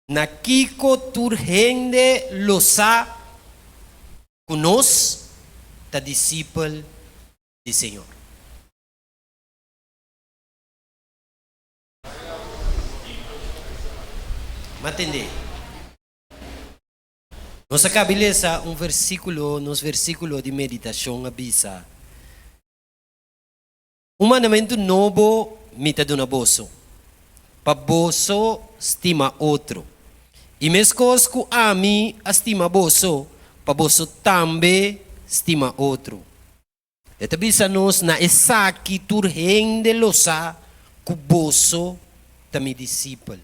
Na kiko tur hende lo sa ku nos ta disipel di Señor? M'atendé. Nos a kabi lesa un versíkulo, nos versíkulo di meditashon a bisa, Un mandamentu nobo mi ta duna boso, pa boso stima otro. I meskos ku ami a stima boso, pa boso tambe stima otro. E ta bisa nos, Na esaki tur hende lo sa ku boso ta mi disipel,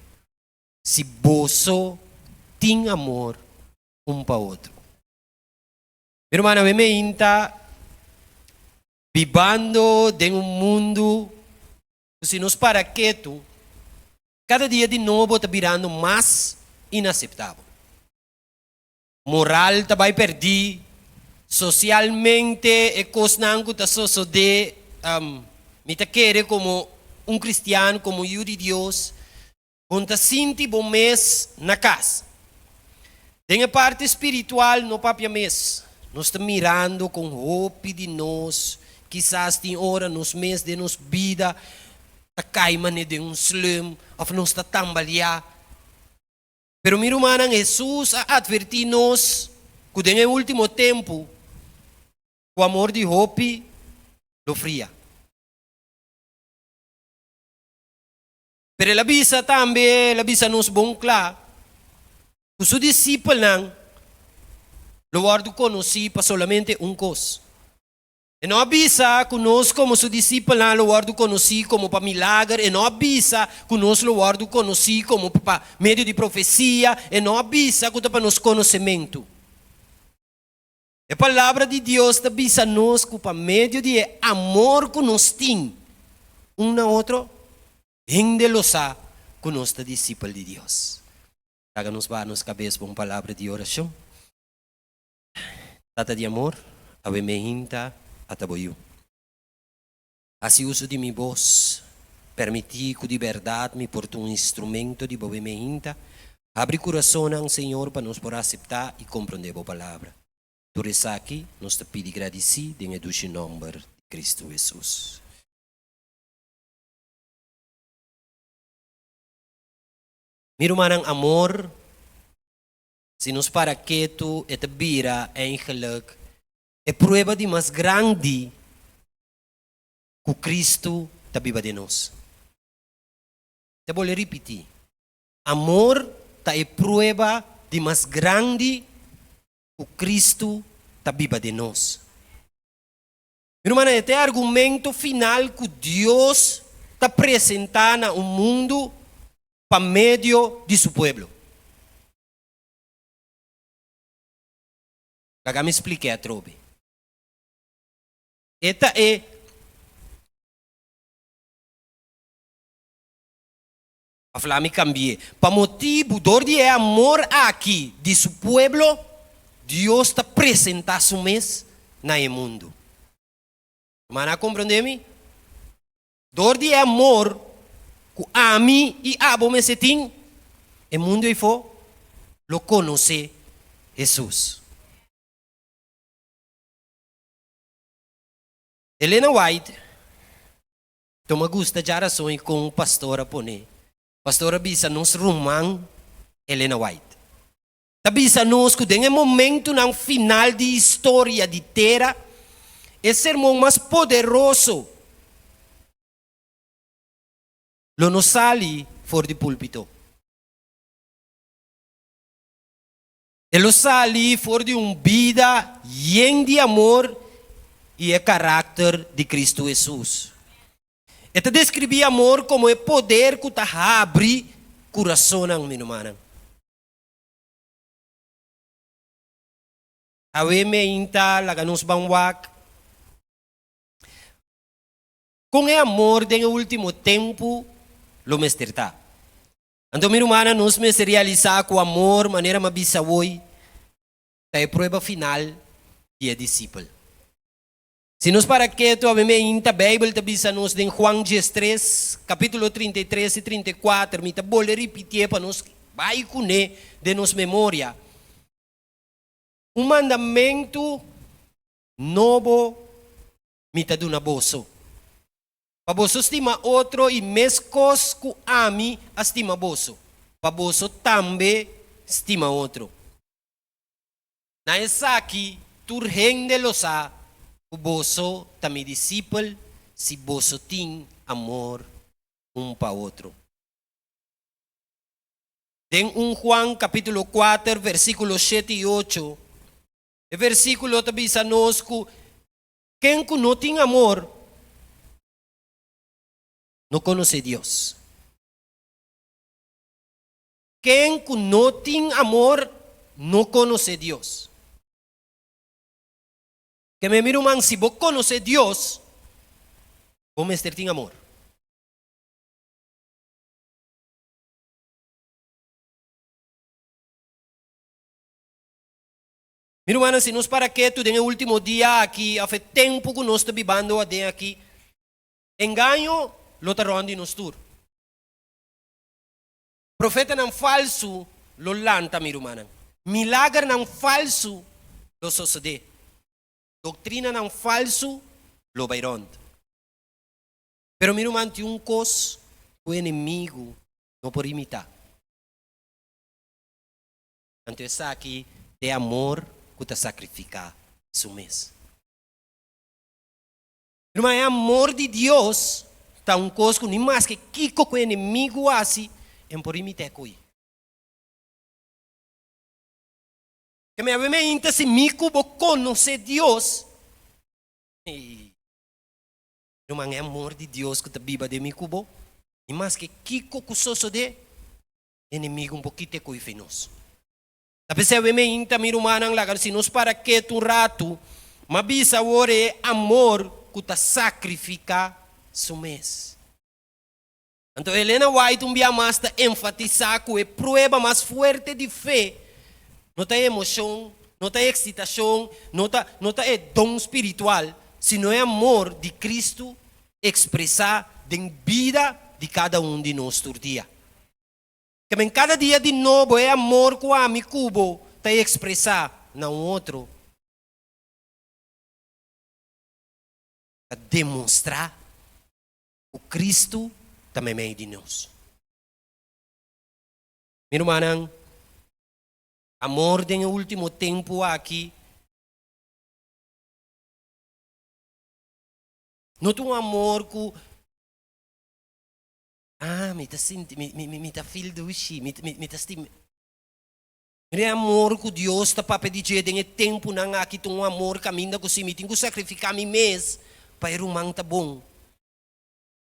si boso tin amor un pa otro. Mi rumannan, mi a inta Bibando den un mundu ku si nos para ketu, kada dia di nobo ta birando mas inaseptabel. Moral ta bai perdí, sosialmente e kosnan ku ta sosodé mi ta kere komo un kristian, komo un yu di Dios, Con ta sinti bo mes na cas? Den e parti spiritual no papia mes. Nos ta mirando con hopi di nos kisas tin ora nos mes den nos bida ta cay mane den un slum of nos ta tambalia. Pero mi rumannan Hesus a adverti nos cu den e ultimo tempo cu amor di hopi lo fria. Pero el a bisa tambe, el a bisa nos bon kla, ku su disipelnan lo wòrdu konosí pa solamente un kos. E no a bisa ku nos komo su disipelnan lo wòrdu konosí komo pa milager, e no a bisa ku nos lo wòrdu konosí komo pa medio di profesia, e no a bisa ku ta pa nos konosementu. E Palabra di Dios ta bisa nos cu pa medio di e amor cu nos tin un na otro, hende lo sa cu nos ta disipel di Dios. Traga nos baha nos cabes pa un palabra di oracion. Tata di amor, awe me hinta ata bo yu. Hasi uso di mi bos. Permití ku di bèrdat mi por ta un instrumento di Bo Bembe Hinta. Abri kurasonnan, Señor, pa nos por aseptá i komprondé Bo Palabra. Tur esaki nos ta pidi gradisí den e dushi nòmber di Kristu Hesus. Mi rumannan amor, si nos para ketu e ta bira, èingelik, e prueba di mas grandi ku Kristu ta biba den nos. Ta bole ripití, Amor ta e prueba di mas grandi ku Kristu ta biba den nos. Mi rumannan, e ta e argumento final ku Dios ta presentá na un mundu pa medio di su pueblo. Laga mi splik'é atrobe. E ta e. A fla mi cambi'e. Pa motibu dor di e amor aki di su pueblo, Dios ta presenta su mes na e mundu. Rumannan a comprende mi? Dor di e amor cu ami y abo mester tin, e mundu eyfo lo conoce Jesus. Elena White, Lo me gusta dja rason i kon un pastor a pone. Pastor a bisa nos ruman Elena White ta bisa nos ku den e momentunan final di historia di tera e sermon mas poderoso lo no sali for di púlpito. E lo sali for di un bida yen di amor i e karakter di Kristu Hesus. E ta deskribí amor komo e poder ku ta habri kurasonnan, mi rumannan. Awe meinta, laga nos ban wak kon e amor den e último tempu lo mester ta. Anto, mi rumannan, nos mester realisá ku amor, manera m'a bisa woi, ta e prueba final di e disipel. Si nos para ketu, a meme ainta Beibel ta bisa nos den Juan diestres, kapítulo trinta i tres i trinta i kuater, mi ta bolbe ripitié pa nos bai kuné den nos memoria, Un mandamentu nobo mi ta duna boso, pa boso stima otro i meskos ku ami a stima boso, pa boso tambe stima otro. Na esaki tur hende lo sa ku boso ta mi disipel, si boso tin amor un pa otro. Den un Juan kapitulo kuater, versíkulo shete i ocho, e versíkulo ta bisa nos ku Ken ku no tin amor no konosé Dios. Ken ku no tin amor no konosé Dios. Ke memi ruman, si bo konosé Dios, bo mester tin amor. Mi rumannan, si nos para ketu den e último dia aki, òf e tempu ku nos ta bibando aden aki, engaño lo ta rònt di nos tur. Profetanan falsu lo lanta, mi rumannan. Milagernan falsu lo sosodé. Doktrinanan falsu lo bai rònt. Pero, mi ruman, tin un kos ku enemigu no por imitá. Anto esaki t'e amor ku ta sakrifiká su mes. Ruma, e amor di Dios ta un kos ku ni maske kiko ku e enemigu hasi e no por rimit'é ko'i. Ke mi a weme ainta si mi ku bo konos'é Dios, ei, ruman e amor di Dios ku ta biba den mi ku bo, ni maske kiko ku sosod'é, enemigu un pokito e koife nos. Ta p'esei awe mi a yinta mi rumannan laga si nos para ketu un ratu, m'a bisa awor e amor ku ta sakrifiká su mes. Anto Elena White un bia mas ta enfatisá ku e prueba mas fuerte di fe no ta e emoshon, no ta e eksitashon, no ta no ta e don spiritual, sino e amor di Kristu expresa den bida di cada un di nos tur dia. Ta men cada dia di nobo e amor cu ami cu bo ta expresa na un otro ta demonstra cu Cristo ta memey di nos. Mi rumannan, amor den e ultimo tempo aki. No ta un amor ku ah mi ta sinti mi mi mi ta feel dushi mi mi ta stim mira e amor ku Dios ta papia di dje den e tempunan aki ta un amor kaminda ku si mi tin ku sakrifiká mi mes pa e ruman ta bon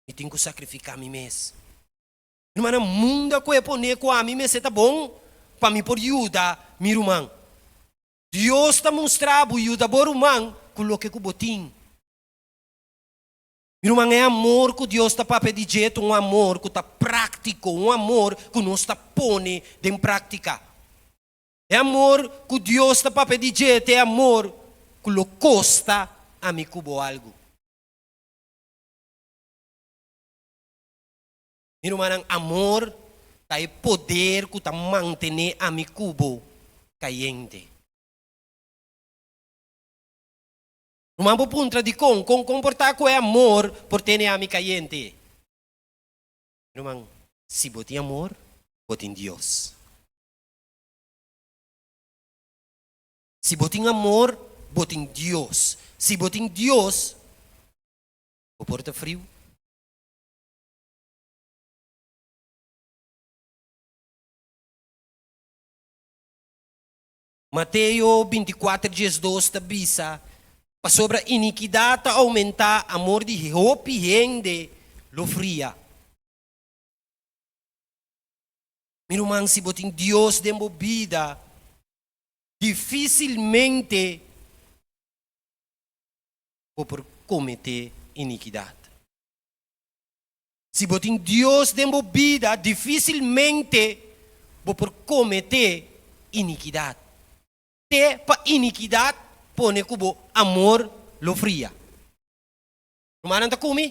mi tin ku sakrifiká mi mes rumannan mundo a kue pone ku ami mester ta bon pa mi por yuda mi ruman Dios ta mustra bo yuda bo ruman ku loke ku bo tin Mi ruman, e amor ku Dios ta papia di dje ta un amor ku ta práktiko, un amor ku nos ta pone den práktika. E amor ku Dios ta papia di dje ta e amor ku lo kosta ami ku bo algu. Mi rumannan, amor ta e poder ku ta mantené ami ku bo kayente. Ruman por puntra, Dikon kon komportá ku e amor por tene ami kayente? Ruman, si bo tin amor, bo tin Dios. Si bo tin amor, bo tin Dios. Si bo tin Dios, bo por ta friu. Mateo binticuater djes dos ta bisa, Pasobra inikidat ta oumentá, amor di hopi hende lo fria. Mi ruman, si bo tin Dios den bo bida, difícilmente bo por cometé inikidat. Si bo tin Dios den bo bida, difisilmente bo por kometé inikidat. Te pa inikidat pone ku bo amor lo fria. Rumannan ta kumi?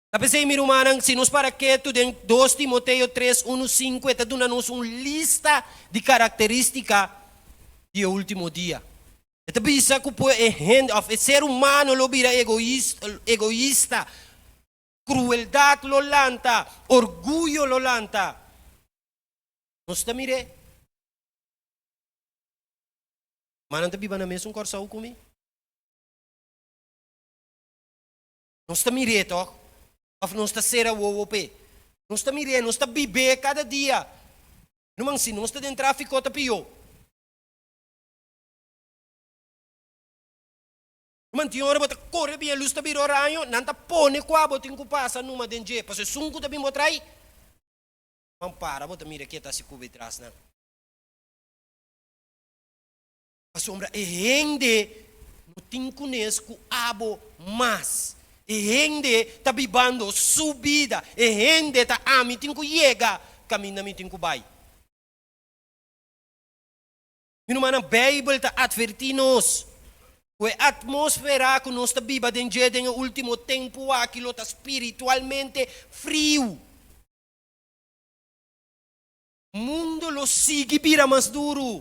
Ta p'esei mi rumannan, si nos para ketu den dos Timoteo tres unu, sinku e ta duna nos un lista di karakterístika di e último dia. E ta bisa ku pue e hende òf e ser humano lo bira egoista, krueldat lo lanta, orguyo lo lanta. Nos ta mir'é. Manan ta biba na mesun Kòrsou ku mi? Nos ta mir'é tòg òf nos ta sera wowo p'e? Nos ta mir'é, nos ta bib'é kada dia. Ruman, si nos ta den trafikó ta pió. Mantin ora bo ta kore bin e lus ta bira oraño, nan ta pone kua bo tin ku pasa numa den dje, pasobra esun ku ta bin bo trai, nan para bo ta mira ke ta si kuba etras nan. Pasobra e hende no tin kunes ku abo mas, e hende ta bibando su bida, e hende ta ami tin ku yega, ka mi na mi tin ku bai. Mi rumannan, Beibel ta atvertí nos ku e atmósfera ku nos ta biba den dje den e último tempu aki lo ta spiritualmente friu. Mundu lo sigui bira mas duru.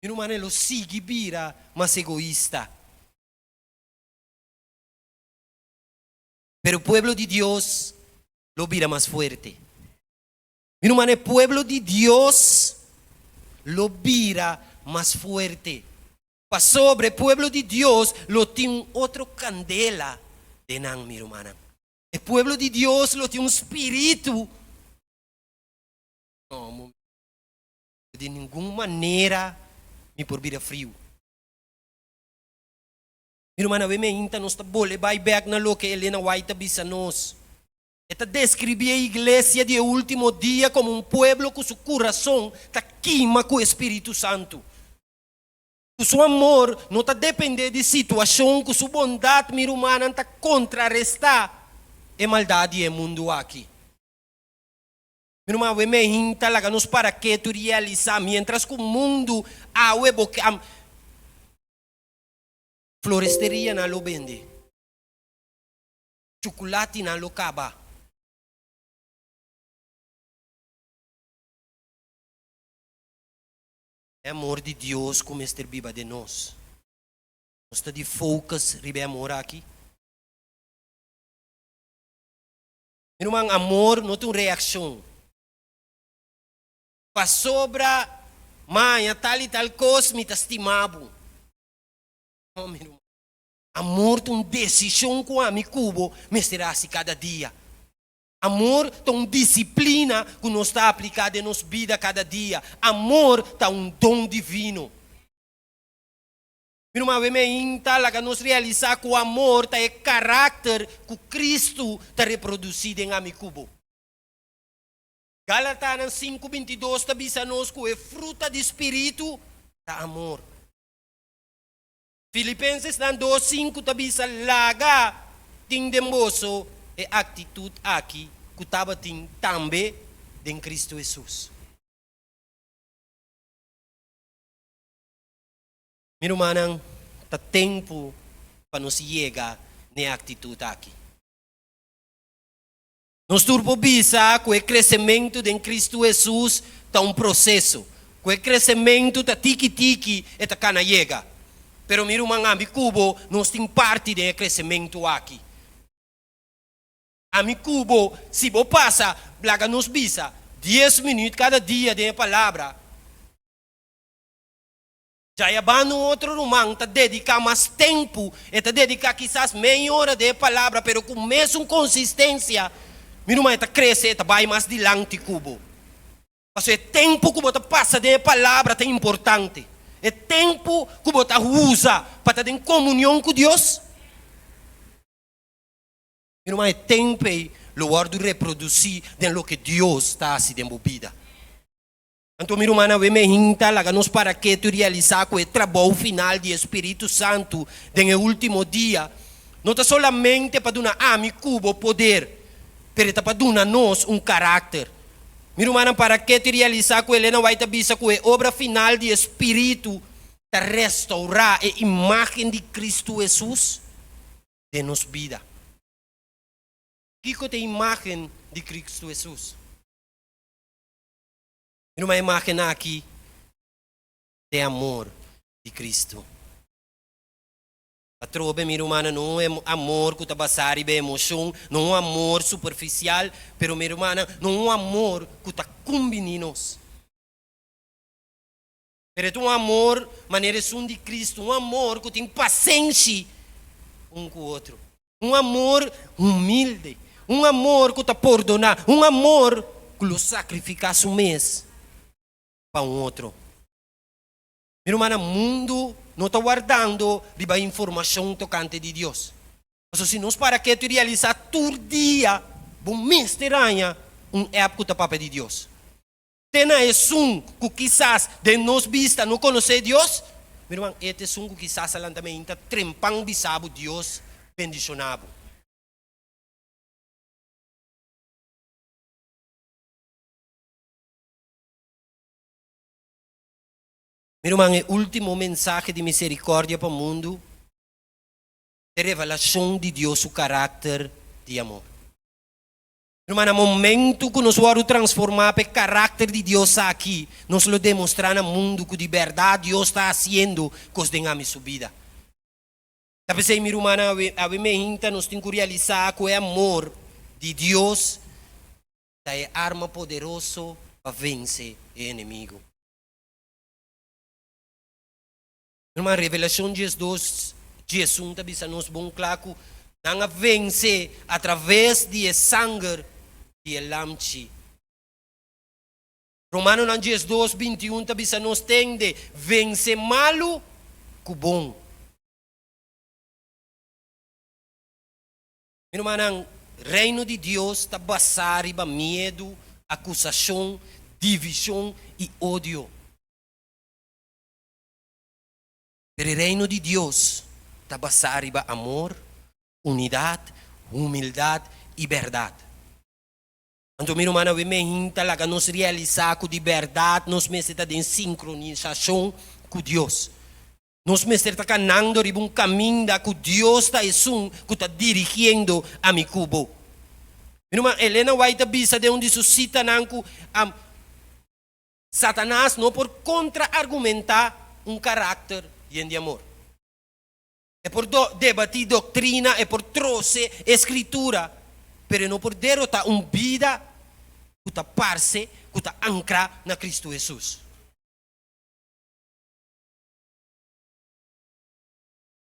Mi rumannan, e lo sigui bira mas egoista. Pero pueblo di Dios lo bira mas fuerte. Mi no manda e pueblo di Dios lo bira mas fuerte, pasobra e pueblo di Dios lo tin un otro candela den nan, mi rumannan. E pueblo di Dios lo tin un spiritu. No, un momento. De ningun manera mi por bira friu. Mi rumannan, awe mi ainta nos ta bole bai bek na loke Elena White ta bisa nos. E ta deskribí e iglesia di e último dia komo un pueblo ku su kurason ta kima ku e spiritu santu, ku su amor no ta dependé di situashon, ku su bondat mi rumannan ta kontrarestá e maldat di e mundu aki. Mi ruman, awe mi a hinta laga nos para ketu realisá miéntras ku mundu awe bo kam. Floresteria nan a lo bende. Chuculatinan lo caba. E amor di Dios cu mester biba den nos. Nos ta di focus riba e amor aki? Mi ruman, amor no ta un reaccion. Pasobra maya tal y tal cos mi ta stima bo. No, mi ruman. Amor ta un desishon ku ami ku bo mester hasi kada dia. Amor ta un disiplina ku nos ta apliká den nos bida kada dia. Amor ta un don divino. Mi ruman, awe mi a hin ta laga nos realisá ku amor ta e karakter ku Kristu ta reprodusí den ami ku bo. Galatanan sinku binti dos ta bisa nos ku e fruta di spiritu ta amor. Filipensesnan dos sinku ta bisa, Laga tin den boso e aktitut aki ku tabatin tambe den Kristu Hesus. Mi rumannan, ta tempu pa nos yega n'e aktitut aki. Nos tur por bisa ku e kresementu den Kristu Hesus ta un proseso, ku e kresementu ta tiki tiki e ta kana yega. Pero mi ruman, ami ku bo nos tin parti den e kresementu aki. Ami ku bo, si bo pasa laga nos bisa dies minüt kada dia den e Palabra, Djayaban un otro ruman ta dediká mas tempu, e ta dediká kisas medio ora di e palabra, pero ku mesun konsistensia, mi ruman e ta krese, e ta bai mas dilanti ku bo. Pasobra e tempu ku bo ta pasa den e palabra ta importante, e tempu ku bo ta usa pa ta den komunion ku Dios, mi ruman, e tempu ei lo wòrdu reprodusí den loke Dios ta hasi den bo bida. Anto, mi rumannan, wen mi a hinta, laga nos para ketu i realisá ku e trabou final di e spiritu santu den e último dia no ta solamente pa duna ami ku bo poder, pero e ta pa duna nos un karakter. Mi rumannan, para ketu i realisá ku Elena White a bisa ku e obra final di e spiritu ta restourá e imágen di Kristu Hesus den nos bida. Kiko ta e imágen di Kristu Hesus? Mi ruma e imágennan akí ta e amor di Cristo. Atrobe, mi rumannan, no un amor ku ta basá riba e emoshon, no un amor superfisial, pero mi rumannan, no un amor ku ta kumbiní nos. Pero e ta un amor manera esun di Cristo, un amor cu tin pasenshi un cu otro, un amor humilde, un amor cu ta pordona, un amor cu lo sacrifica su mes pa un otro. Mi rumannan, mundo no ta wardando riba informacion tocante di Dios. Pasobra si nos para ketu i realisa tur dia bo mester haña un app cu ta papia di Dios. Te na esun ku kisas den nos bista no konosé Dios? Mi ruman, e ta esun ku kisas a lanta mainta ta trempan bisa bo Dios bendishoná bo. Mi ruman, e último mensahe di miserikòrdia pa mundu ta revelashon di Dios su karakter di amor. Ruma na momentu ku nos wòrdu transformá pa e karakter di Dios akí, nos lo demostrá na mundu ku di bèrdat Dios ta hasiendo kos den ami su bida. Ta p'esei, mi rumannan, awe, awe mi e hinta, nos tin ku realisá ku e amor di Dios ta e arma poderoso pa vense e enemigu. Herman, Revelacion diesdos, diesun ta bisa nos bon cla cu nan a vence atraves di e sanger di e Lamchi. Romanonan diesdos, bintiun ta bisa nos tende vence malu cu bon. Mi rumannan, Reino di Dios ta basa riba miedu, acusacion, division y odio. Pero e Reino di Dios ta basá riba amor, unidat, humildat i bèrdat. Anto mi rumannan, wi mehn ta laga nos realisá ku di bèrdat nos mester ta den sinkronisashon ku Dios. Nos mester ta kanando riba un kaminda ku Dios ta esun ku ta dirigiendo ami ku bo. Mi ruman Elena White a bisa den un di su sitanan ku, Am, Satanas no por kontra-argumentá un karakter yen di amor. E por debatí doktrina, e por trose e Skritura, pero e no por derotá un bida ku ta parse ku ta ankrá na Kristu Hesus.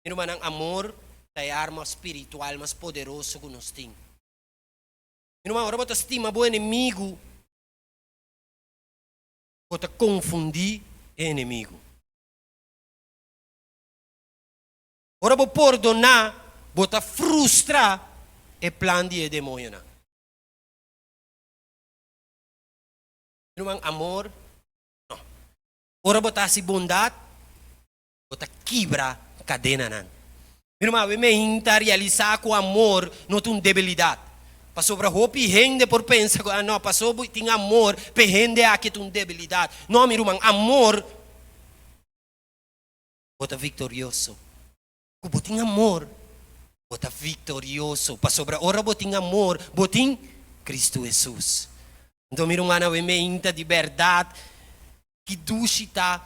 Mi rumannan, amor ta e arma spiritual mas poderoso ku nos tin. Mi ruman, ora bo ta stima bo enemigu, ku ta konfundí e enemigu. Ora bo pordoná, bo ta frustra e plan di e demonionan. Ruman, amor? No. Ora bo ta hasi bondat, bo ta kibra kadenanan. Mi ruman, awe mi'ain ta realisá ku amor no ta un debilidat. Pasobra hopi hende por pensa ku, Nò, pasobra bo tin amor p'e hende akí e ta un debilidat. Nò, mi ruman, amor bo ta viktorioso. Ku bo tin amor, bo ta viktorioso. Pasobra ora bo tin amor, bo tin Kristu Hesus. Anto, mi rumannan, awe mi'ain ta di bèrdat Ki dushi ta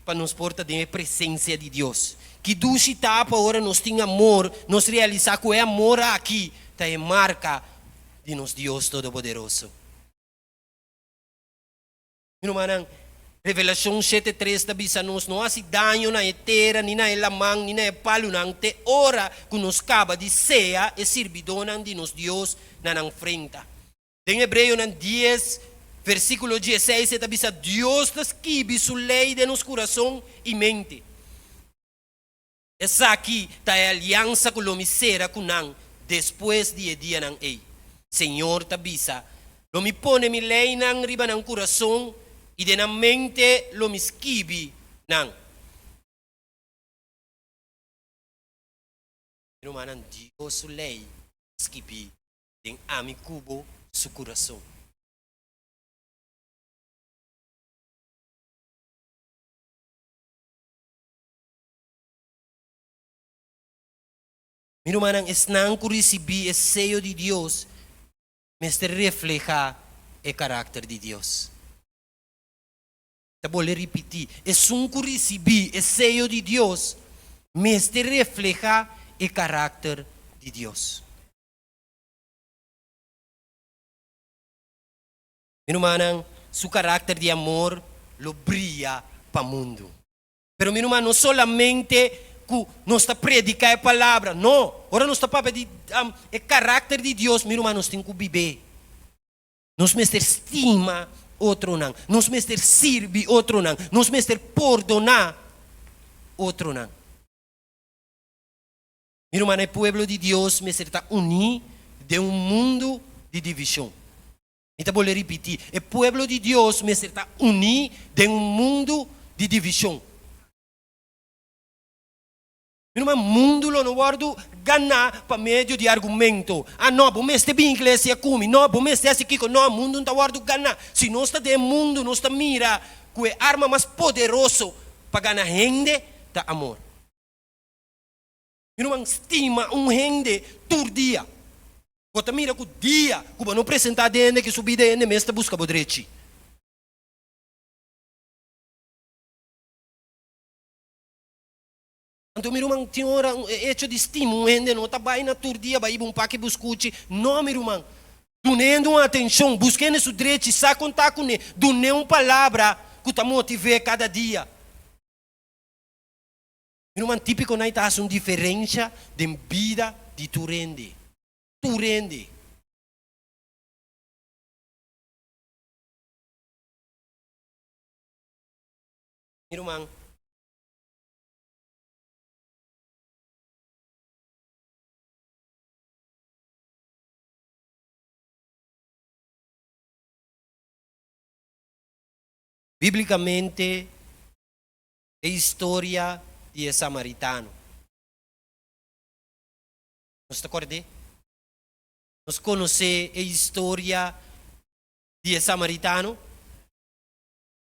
pa nos por ta den e presensia di Dios! Ki dushi ta pa ora nos tin amor, nos realisá ku e amor aki ta e marka di nos Dios Todopoderoso! Mi rumannan, Revelashon shete tres ta bisa nos, No hasi daño na e tera, ni na e laman, ni na e palunan, te ora ku nos kaba di sea e sirbidónan di nos Dios na nan frenta. Den Hebreonan dies, versikulo diesseis e ta bisa, Dios ta skibi su lei den nos kurason i mente. Esaki ta e aliansa ku lo mi sera ku nan despues di e dianan ei. Señor ta bisa, Lo mi pone mi leinan riba nan kurason i den nan mente lo mi skibi nan. Rumannan, Dios su lei ta skibí den ami ku bo su kurason. Mi rumannan, esnan ku risibí e seyo di Dios mester reflehá e karakter di Dios. Ta bolbe ripití, esun ku risibí e seyo di Dios mester reflehá e karakter di Dios. Mi rumannan, su karakter di amor lo bria pa mundu. Pero, mi ruman, no solamente ku nos ta prediká e palabra, no. Ora nos ta papia di e karakter di Dios, mi ruman, nos tin ku bib'é. Nos mester stima otronan, nos mester sirbi otronan, nos mester pordoná otronan. Mi rumannan, e pueblo di Dios mester ta uní den un mundu di divishon. Mi ta bolbe ripití, e pueblo di Dios mester ta uní den un mundu di divishon. Mi ruman, mundu lo no wòrdu ganá pa medio di argumento. Ah, nò, bo mester bini iglesia ku mi. Nò, bo mester hasi kiko. Nò, mundu no ta wòrdu ganá. Si nos ta den e mundu, nos ta mira ku e arma mas poderoso pa gana hende ta amor. Mi ruman, stima un hende tur dia. Bo ta mira ku dia ku bo no presentá den hende ki su bida, hende mes ta buska bo drechi. Anto, mi ruman, tin ora e echo di stima un hende no ta bai na tur dia bai iba un pake buskuchi. No, mi ruman. Duna hende un atenshon, buska hende su drechi, sa kontá kuné, dun'é un palabra ku ta motiv'é kada dia. Ruman típikonan ta hasi un diferensha den bida di tur hende. Tur hende. Mi ruman. Bíblikamente e historia di e samaritano. Nos ta kord'é? Nos konosé e historia di e samaritano?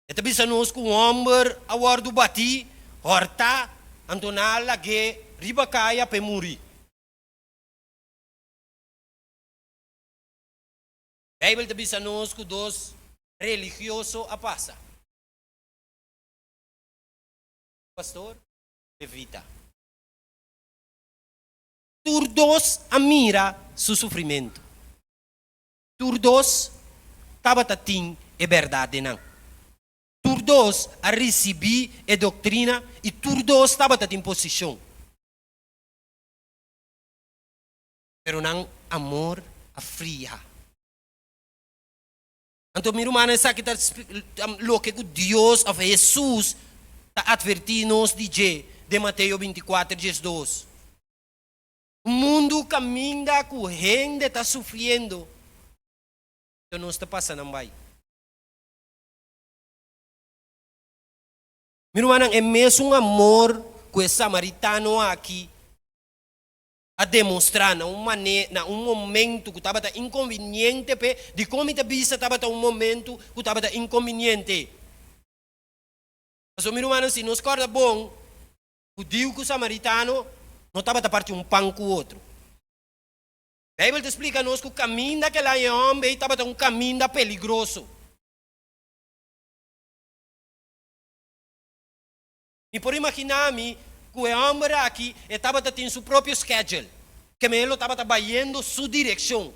E ta bisa nos ku un hòmber a wòrdu batí, hòrtá, anto nan a lag'é riba kaya pa e muri. Beibel ta bisa nos ku dos religioso a pasa. Pastor Levita. Tur dos a mira su sufrimentu. Tur dos tabata tin e bèrdat den nan. Tur dos a risibí e doktrina i tur dos tabata tin posishon. Pero nan amor a fria. Anto, mi rumannan, esaki ta loke ku Dios, òf Hesus, ta atvertí nos di dje den Mateo bintikuater djes dos. Un mundu kaminda ku hende ta sufriendo, anto nos ta pasa nan bai. Mi rumannan, e mesun amor ku e samaritano aki a demostrá na un mané na un momentu ku tabata inkonviniente p'e, dikon mi ta bisa tabata un momentu ku tabata inkonviniente? Pasobra mi rumannan, si nos kòrda bon, hudiu ku samaritano no tabata parti un pan ku otro. Beibel ta splika nos ku kaminda ke laña e hòmber ei tabata un kaminda peligroso. Mi por imaginá mi ku e hòmber aki e tabata tin su propio schedule, ke men e lo tabata bayendo su direkshon.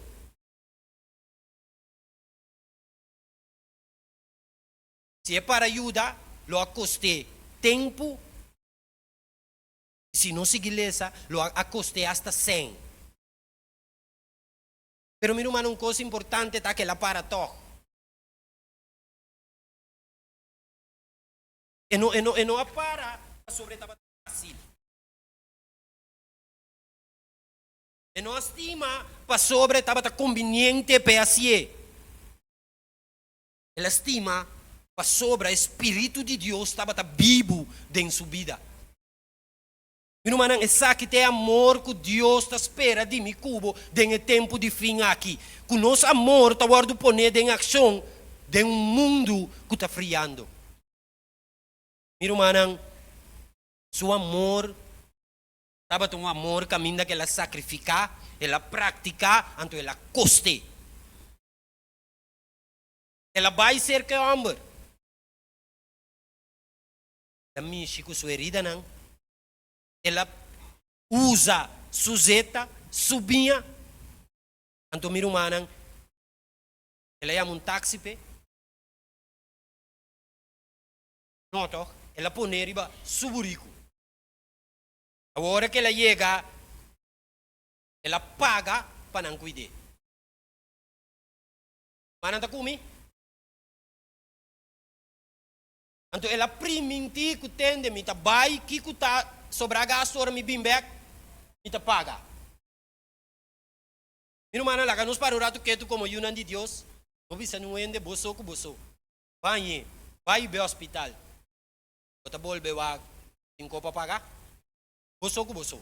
Si e para yuda, lo a kost'é tempu, i si no sigui lesa, lo a a kost'é asta sèn. Pero mi rumannan, un kos importante ta ke el a para tòg. E no e no e no a para pasobra e tabata fácil. E no a stima pasobra e tabata conveniente p'e haci'é. El a stima pasobra e Spiritu di Dios tabata bibu den su bida. Mi rumannan, esaki ta e amor ku Dios ta spera di mi ku bo den e tempu di fin aki, ku nos amor ta wòrdu poné den akshon den un mundu ku ta friando. Mi rumannan, su amor tabata un amor kaminda ku el a sakrifiká, el a praktiká, anto el a kost'é. El a bai serka e hòmber. ta mishi ku su eridanan, el a usa su zeta, su biña. Anto mi rumannan, el a yama un taksi p'e. No tòg, el a pone riba su buriku. Awor ku el a yega, el a paga pa nan kuid'é. Rumannan ta kumi. Anto el a priminti ku tende mi ta bai kiku ta sobra gastu ora mi bin bek mi ta paga. Mi rumannan laga nos para un ratu ketu komo yunan di Dios, bo bisa nun hende boso ku boso, Bañe, bai be hospital, bo ta bolbe wak tin ko pa paga? Boso ku boso.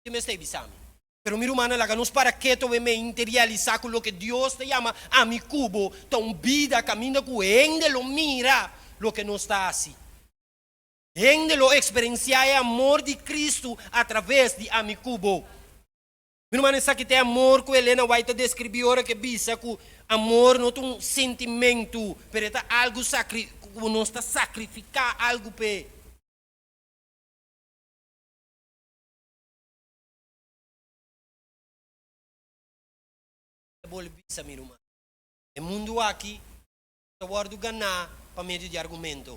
Ke mester e bisa mi? Pero mi rumannan, laga nos para keto we mei n'te realisá ku loke Dios ta yama ami ku bo ta un bida kaminda ku hende lo mira loke nos ta hasi. Hende lo eksperensiá e amor di Kristu atraves di ami ku bo. Mi rumannan, esaki ta e amor ku Elena White ta deskribí ora ke bisa ku amor no ta un sentimentu, pero e ta algu sakri, ku nos ta sakrifiká algu p'e. Bole bisa mi ruman. E mundu aki no ta wòrdu ganá pa medio di argumento.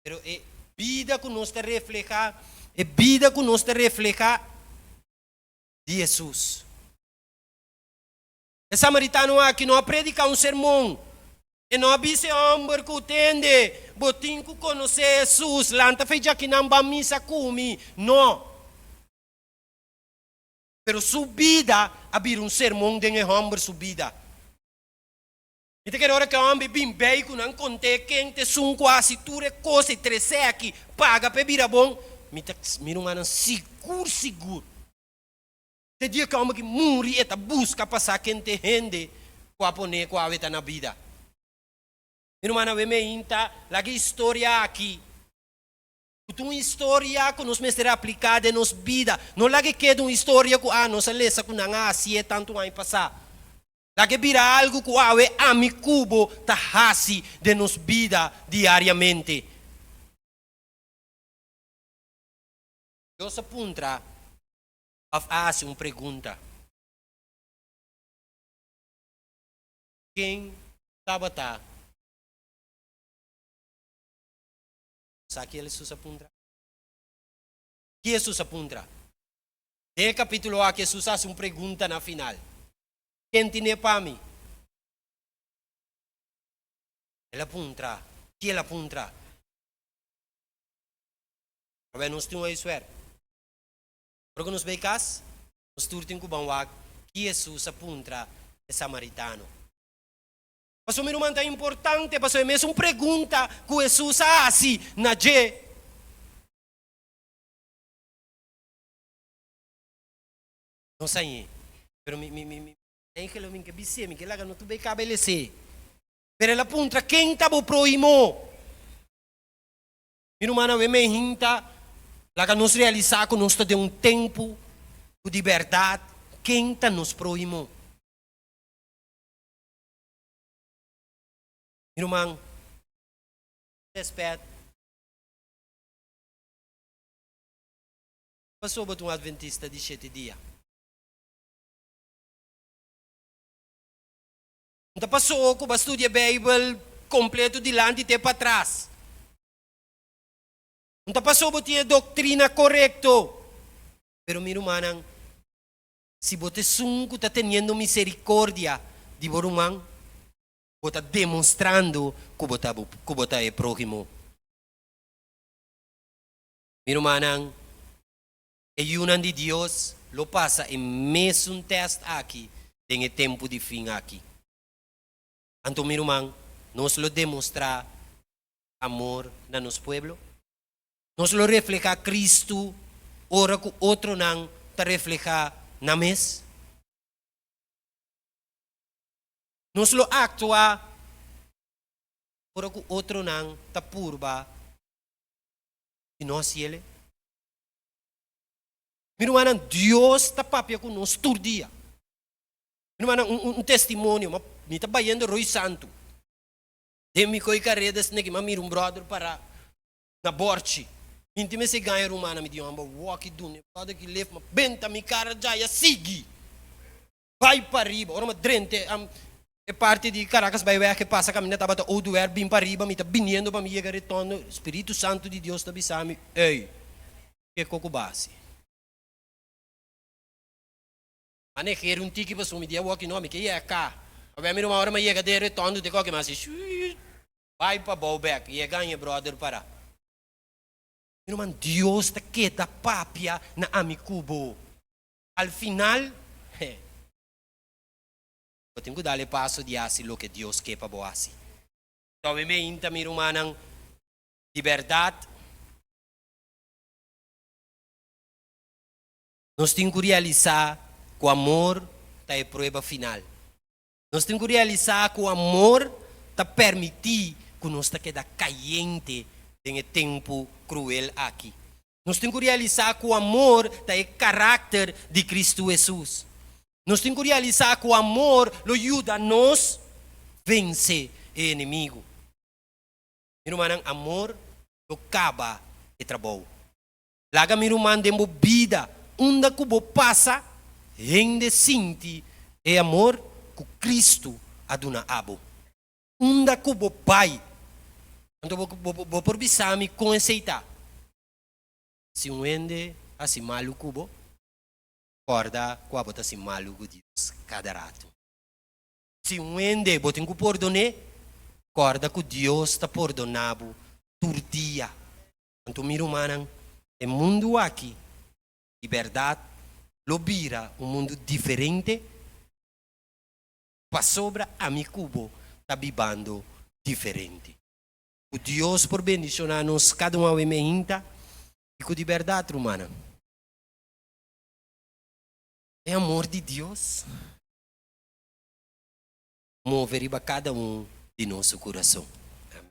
Pero e bida ku nos ta reflehá, e bida ku nos ta reflehá di Hesus. E samaritano aki no a prediká un sermon. E no a bisa e hòmber ku tende, Bo tin ku konosé Hesus. Lanta fe djaki nan ban misa ku mi. No. Pero su bida a bira un sermon den e hòmber su bida. Mi ta kere ora ku e hòmber bin bai ku nan kont'é ken ta esun ku a hasi tur e kos e tres'é aki paga pa e bira bon. Mi ta mira un man nan sigur sigur. Te dia kaman ki muri e ta buska pa sa kente hende ku a pone ku awe ta na bida. Mi rumannan wen mi a hinta, laga e historia aki, ku ta un historia ku nos mester apliká den nos bida. No laga e keda un historia ku, a nos a lesa ku nan a hasié tantu aña pasá. Laga e bira algu ku awe ami ku bo ta hasi den nos bida diariamente. Dios a puntra, òf a hasi un pregunta. Ken tabata sa ke Hesus a puntra? Ke Hesus a puntra? Den e kapítulo aki Hesus a hasi un pregunta na final, Ken tin'é pa mi? El a puntra. Ke el a puntra? Pabia nos tin oí suerte. Ora ku nos bai kas, nos tur tin ku ban wak ki Hesus a puntra e samaritano. Pasobra mi ruman ta importante, pasobra e mesun pregunta ku Hesus a hasi na dje. No sa ñe, pero mi mi mi ten geloi mi ke bis'é, mi ke laga no tur bai kaba e les'é. Pero el a puntra, Ken ta bo próhimo? Mi rumannan, awe mi e hinta, laga nos realisa ku nos ta den un tempu ku di bèrdat ken ta nos próhimo. Mi ruman, ku rèspèt, ki pasó bo ta un adventista di shete dia? Ta paso'o ku bo a studia Beibel kompletu dilanti te patras? Ta paso'o bo tin e doktrina korekto? Pero mi rumannan, si bo ta esun ku ta teniendo miserikordia di bo ruman, bo ta demostrando ku bo ta ku bo ta e próhimo. Mi rumannan, E yunan di Dios lo pasa e mesun tèst aki den e tempu di fin aki. Anto, mi ruman, nos lo demostrá amor na nos pueblo? Nos lo reflehá Kristu ora ku otronan ta reflehá nan mes? Nos lo aktuá ora ku otronan ta purba di nos yele? Mi rumannan, Dios ta papia ku nos tur dia. Mi rumannan, un, un, un testimonio, ma mi ta bayendo Rui Santu. Den mi koi kareda esei naki, ma mira un bròder pará na bòrchi. Inti mester gaña rumannan, mi di, Homber, wòki dune bròder ki lef, ma benta mi kara djaya sigui. bai pa riba, ora mi drente e parti di Caracas bai weg, e pasa caminda tabata Oduber bin pa riba, mi ta biniendo pa mi yega retondo, Spiritu Santo di Dios ta bisa mi, ey, kico cu ba haci? A negeru un tiki pasobra mi di e walkie no, mi ke yega ca, a wen mi ruma ora mi a yega den retondo te koke mi a haci, shuuutt, bai pa bou bek, yega aña brother para. Mi ruman, Dios ta keda papia na ami cu bo. Al final, he, bo tin ku dal e paso di hasi loke Dios ke pa bo hasi. Tòbe mi a hinta mi rumannan di bèrdat. Nos tin ku realisá ku amor ta e prueba final. Nos tin ku realisá ku amor ta pèrmití ku nos ta keda kayente den e tempu kruel aki. Nos tin ku realisá ku amor ta e karakter di Kristu Hesus. Nos tin ku realisá ku amor lo yuda nos vense e enemigu. Mi rumannan, amor lo kaba e trabou. Laga mi ruman den bo bida unda ku bo pasa hende sinti e amor ku Kristu a duna abo. Unda ku bo bai, anto bo por bisa mi kon esei ta. Si un hende hasi malu ku bo, kòrda ku abo ta hasi malu ku Dios kada ratu. Si un hende bo tin ku pordon'é, kòrda ku Dios ta pordoná bo tur dia. Anto mi rumannan, e mundu aki di bèrdat lo bira un mundu diferente pasobra ami ku bo ta bibando diferente. Ku Dios por bendishoná nos kada un awe mehinta i ku di bèrdat rumannan, e amor di Dios. move riba kada un di nos su kurason. Amen.